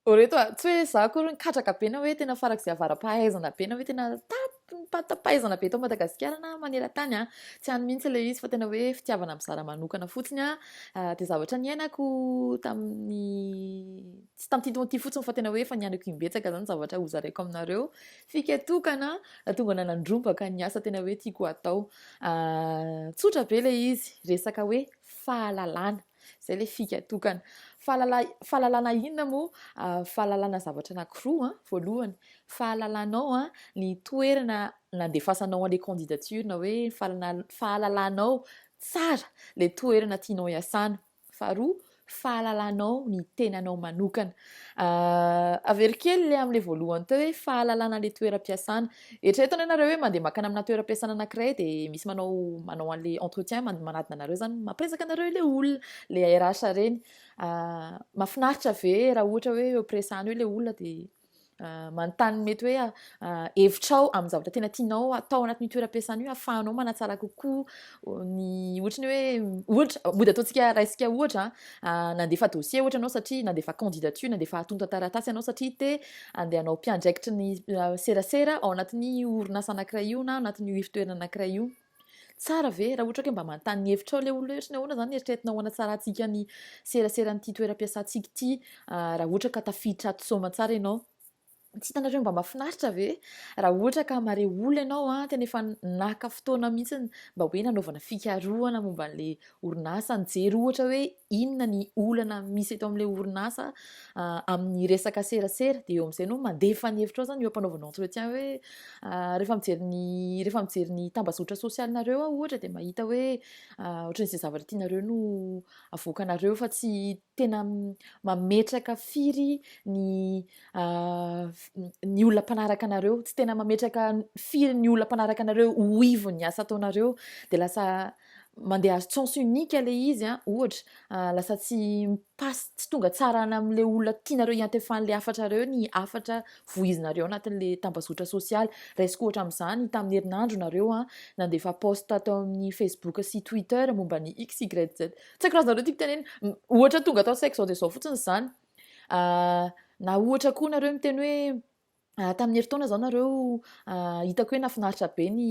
Ô reto a, tsy hoe za akory nikatraka be na hoe tena farak'izay avara-pahaizana be na hoe tena tapim-pahatapaizana be eto Madagasikara na maneran-tany a, tsy any mihitsy ilay izy fa tena hoe fitiavana mizara manokana fotsiny a, dia zavatra niainako tamin'ny tsy tamin'ity taona ity fotsiny fa tena hoe efa niainako imbetsaka izany zavatra hozaraiko aminareo, fika tokana nahatonga anahy nandrombaka ny asa tena hoe tiako hatao, tsotra be ilay izy, resaka hoe fahalalana. Zay le fika tokana. Fahalala, fahalalana inona moa? Ah, fahalalana zavatra anankiroa an. Voalohany, fahalalanao an ny toerana nandefasanao an'le candidature na hoe fahalana, fahalalanao tsara le toerana tianao hiasana. Faharoa, fahalalanao ny tenanao manokana. Ah, avero kely le am'le voalohany teo hoe fahalalana le toeram-piasana. Eritrereto anie nareo hoe mandeha makany amina toeram-piasana anakiray de misy manao manao anle entretien manadina anareo zany mampiresaka anareo ile olona le RH reny ah, mafinaritra ve raha ohatra hoe eo presana eo ile olona de ah, manontany mety hoe ah, hevitrao amin'ny zavatra tena tianao atao anatin'io toeram-piasana io afahanao manatsara kokoa ny ohatra ny hoe ohatra mody ataontsika raisika ohatra nandefa dossier ohatra ianao satria nandefa candidature nandefa atonta taratasy ianao satria te andeha hanao mpiandraikitry ny euh, serasera ao anatin'ny orinasa anankiray io na anatin'ny io ifotoerana anankiray io tsara ve raha ohatra ke mba manontany hevitra ao le olona ohatra ny ahoana zany eritreritina ho anatsaratsika ny serasera an'ity toeram-piasantsika ity ah, raha ohatra ka tafiditra ato soma tsara ianao Tsy hitanareo mba mahafinaritra ve raha ohatra ka mare olona ianao an, tena efa naka fotoana mihitsy mba hoe nanaovana fikarohana momba an'ilay orinasa, nijery ohatra hoe inona ny olana misy eto amin'ilay orinasa amin'ny resaka serasera, dia eo amin'izay no mandefa ny hevitrao zany eo am-panaovana entretien hoe rehefa mijery ny rehefa mijery ny tambazotra sosialinareo aho ohatra dia mahita hoe ohatran'izay zavatra tianareo no avoakanareo fa tsy tena mametraka firy ny ny olona mpanaraka anareo, tsy tena mametraka firy ny olona mpanaraka anareo ho ivon'ny asa ataonareo, dia lasa mandeha à sens unique ilay izy an, ohatra, lasa tsy mi-passe, tsy tonga tsara any amin'ilay olona tianareo hiantefan'ilay hafatrareo ny hafatra voizinareo anatin'ilay tambazotra sosialy. Raisiko ohatra amin'izany, tamin'ny herinandro nareo an, nandefa post tao amin'ny Facebook sy Twitter momba ny XYZ Tsy haiko raha azonareo tiako tenena. M- Ohatra tonga tao an-tsaiko izao dia izao fotsiny izany. Ah, na ohatra koa nareo miteny hoe ah, tamin'ny herintaona izao nareo ah, hitako hoe nafinaritra be ny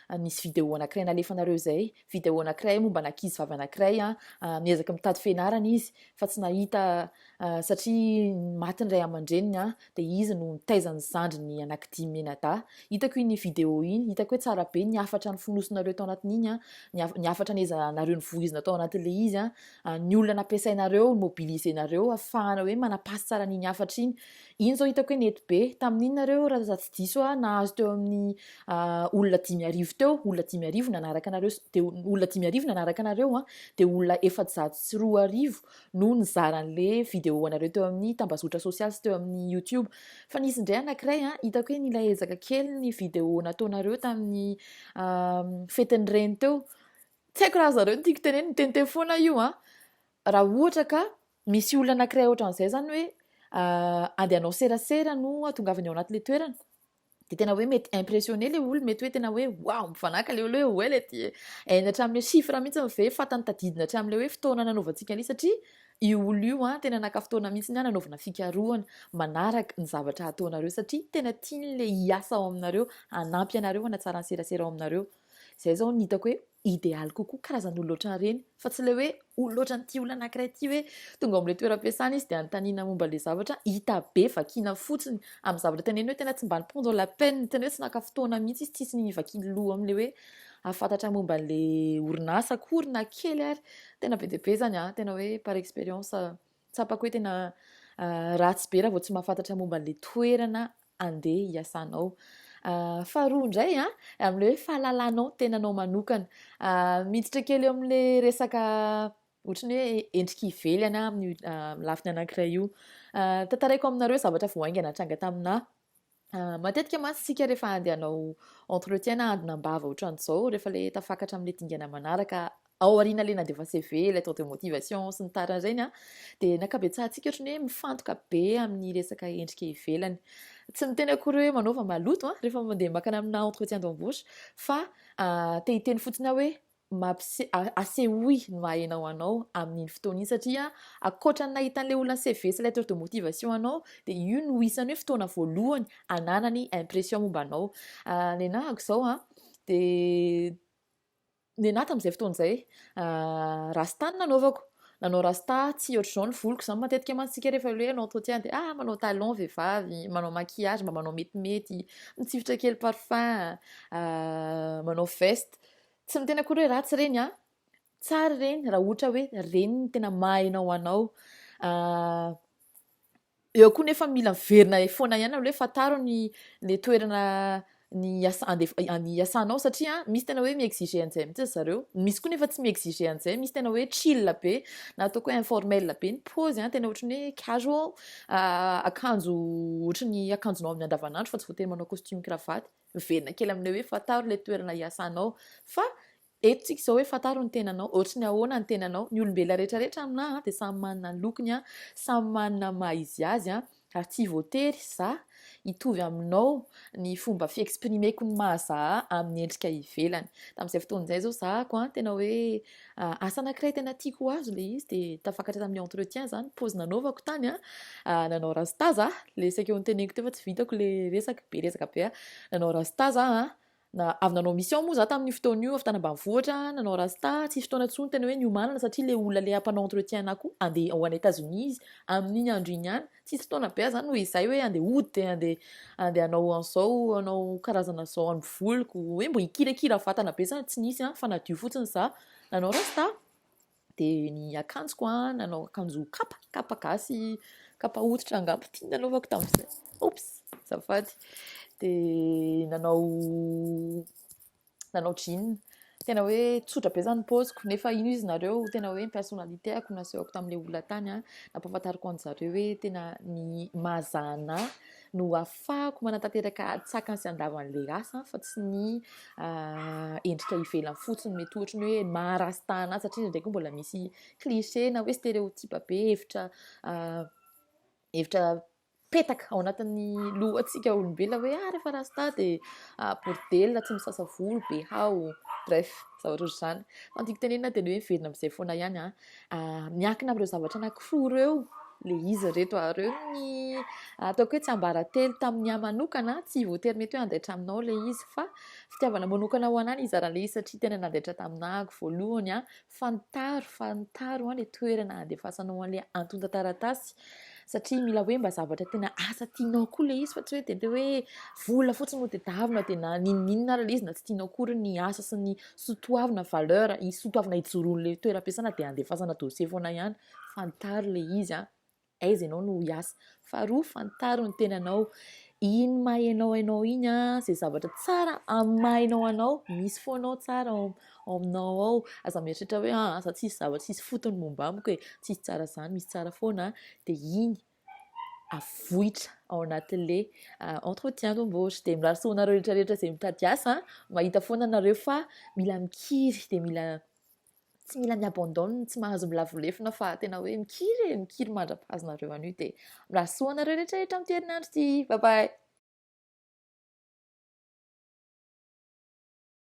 ah, nisy vidéo anankiray nalefanareo izay. Vidéo anankiray momba an'ankizy vavy anankiray an, ah, miezaka mitady fianarana izy fa tsy nahita satria maty ny ray aman-dreniny an, dia izy no nitaiza ny zandriny anankidimy mianadahy, hitako iny vidéo iny, hitako hoe tsara be ny hafatra nofonosinareo tao anatin'iny an, ny hafatra nezahanareo novohizina tao anatin'ilay izy an, ny olona nampiasainareo, nomobilisenareo hahafahana hoe manapasy tsara an'iny hafatra iny, iny zao hitako hoe nety be, tamin'iny nareo raha tsy diso aho nahazo teo amin'ny olona dimy arivo teo, olona dimy arivo nanaraka anareo, dia olona dimy arivo nanaraka anareo an, dia olona efajato sy roa arivo no nizara anle video anareo teo amin'ny tambazotra sosialy sy teo amin'ny youtube fa nisy indray anakiray an hitako hoe nila ezaka kely ny video nataonareo tamin'ny fetin'ny reny teo tsy haiko raha zareo ny tiako teneny mitente foana io an raha ohatra ka misy olona anakiray ohatran'izay zany hoe andehanao serasera no atongavany ao anatin'le toerana dia tena hoe mety impressionné le olo mety hoe tena hoe wow mifanaka le olo hoe hoe le ty hainy hatramin'le chiffre mihitsy ny ve fatany tadidina hatramin'le hoe fotoana nanaovantsika an'io satria io olo io a tena naka fotoana mihitsy ny a nanaovana fikarohana manaraka ny zavatra hataonareo satria tena tian'le hiasa ao aminareo hanampy anareo hanatsara ny serasera ao aminareo Izay izao no hitako hoe idealy kokoa, karazan'olona ohatran'ireny. Fa tsy ilay hoe olona ohatran'ity olona anankiray ity hoe tonga ao amin'ilay toeram-piasana izy dia anontaniana momba ilay zavatra, hita be vakiana fotsiny amin'ny zavatra teneniny hoe tena tsy mba ni-prendre la peine, tena hoe tsy naka fotoana mihitsy izy, tsisy nivakiany loha amin'ilay hoe hahafantatra momba an'ilay orinasa akory na kely ary. Tena be dia be izany, tena hoe par expérience. Tsapako hoe tena ratsy be raha vao tsy mahafantatra momba an'ilay toerana andeha hiasanao. Faharoa indray a, amin'ilay hoe fahalalanao tenanao manokana. Miditra kely eo amin'ilay resaka ohatry ny hoe endrika ivelany amin'ny lafiny anankiray io. Tantaraiko aminareo zavatra vao haingana tranga taminà. Matetika mantsy isika rehefa andeha hanao entretien na handona am-bava ohatran'izao, rehefa ilay tafakatra amin'ilay dingana manaraka ao aoriana ilay nandefa CV, lettre de motivation sy ny tariny ireny, dia ny ankabetsahantsika ohatran'ny hoe mifantoka be amin'ny resaka endrika ivelany. Tsy miteny akory hoe manaova maloto rehefa mandeha makana amina entretien d'embauche fa te hiteny fotsiny aho hoe Mampise- a- Asehoy ny maha enao anao amin'iny fotoana iny satria ankoatra ny nahita an'ilay olona ny CV sy lettre de motivation anao dia io no isan'ny hoe fotoana voalohany ananany impression momba anao. Ah, ny anahako izao an, dia ny anahy tamin'izay fotoana izay ah, rasta no nanaovako. Nanao rasta, tsy ohatr'izao ny voloko izany matetika mantsy isika rehefa ilay hoe hanao entretien dia ah, manao talon vehivavy, manao maquillage mba manao metimety, mitsifitra kely parfum, ah, manao veste. Tsy miteny akory hoe ratsy ireny an! Tsara ireny raha ohatra hoe ireny no tena maha enao anao. Eo koa nefa mila miverina foana ihany aloha hoe fantaro ny le toerana ny iasanao satria misy tena hoe mi-exiger an'izay mihitsy ry zareo. Misy koa nefa tsy mi-exiger an'izay, misy tena hoe chill be na ataoko hoe informel be ny paozy an, tena ohatran'ny hoe casual, akanjo ohatran'ny akanjonao amin'ny andavanandro fa tsy voatery manao costume cravate. miverina kely amin'ilay hoe fantaro ilay toerana iasanao fa eto tsika izao hoe fantaro ny tenanao ohatry ny ahoana ny tenanao ny olombelona rehetra rehetra aminà dia samy manana ny lokony a samy manana maha izy azy a ary tsy voatery za hitovy aminao ny fomba fiexprimeko ny mahazaha amin'ny endrika ivelany tamin'izay fotoana izay zao zahako a tena hoe Asa anankiray tena tiako ho azy ilay izy dia tafakatra tamin'ny entretien izany, pause nanaovako tany an, nanao rasta za, ilay saika ho noteneniko teo fa tsy vitako ilay resaka, be resaka be an, nanao rasta za an, na avy nanao mission moa za tamin'io fotoana io, avy tany ambanivohitra, nanao rasta, tsisy fotoana intsony tena hoe niomanana satria ilay olona ilay hampanao entretien anah koa handeha ho any Etazonia izy, amin'iny andro iny ihany, tsisy fotoana be aza no izay hoe andeha hody andeha andeha hanao an'izao hanao karazana izao amin'ny voliko hoe mba hikirakira vatana be zany tsy nisy an fa nadio fotsiny za nanao rasta dia ny akanjoko an nanao akanjo kapa kapa gasy kapa hoditra angamba ity nanaovako tamin'izay oops azafady dia nanao nanao jean. Tena hoe tsotra be zany paoziko nefa ino izy nareo tena hoe ny personnalité ako nasehoko tamin'ilay olona tany a nampahafantariko an'i zareo hoe tena ny mahazahana no afahako manatanteraka tsakany sy andavan'ilay rasa fa tsy ny ah, endrika ivelany fotsiny mety ohatra ny hoe maharastana azy satria ndraiky mbola misy cliché na hoe stéréotype be hevitra ah, hevitra mipetaka ao anatin'ny lohantsika olombelona hoe ah rehefa rasta dia ah, bordel, tsy misasa volo, be hao, bref, zavatra ohatr'izany. Fandiko tenenina dia ny hoe miverina amin'izay foana ihany ah. ah miankina amin'ireo zavatra anankiroa ireo le izy reto ah, ireo ny ah, ataoko hoe tsy ambaratelo tamin'ny ahy manokana, tsy voatery mety hoe handaitra aminao le izy fa fitiavana manokana ho anany izara le izy satria tena nandaitra taminako voalohany ah, Fantaro, fantaro an le toerana handefasanao an le antontan-taratasy satria mila hoe mba zavatra tena asa tianao koa le izy fa tsy hoe de hoe vola fotsiny no tedavina de na ninoninona ary le izy na tsy tianao akory ny asa sy ny sotoavina valeur sotoavina ijoroan'le toeram-piasana de handefasana dossier foana ihany, fantaro le izy an. Aiza ianao no hiasa. Faharoa, fantaro ny tenanao. Iny maha ianao ianao iny an, izay zavatra tsara amin'ny maha ianao anao, misy foana ao tsara ao aminao ao. Aza mieritreritra hoe aa za tsisy zavatra tsisy fotony momba amiko e, tsisy tsara izany, misy tsara foana. Dia iny avoitra ao anatin'le entretien d'embauche. Dia mirary soa anareo rehetra rehetra izay mitady asa an, mahita foana nareo fa mila mikiry dia mila tsy mila mi abandonne, tsy mahazo milavo lefona fa tena hoe mikiry e, mikiry mandra-pahazo nareo an'io dia mirary soa anareo rehetra rehetra amin'ity herinandro ity, bye bye.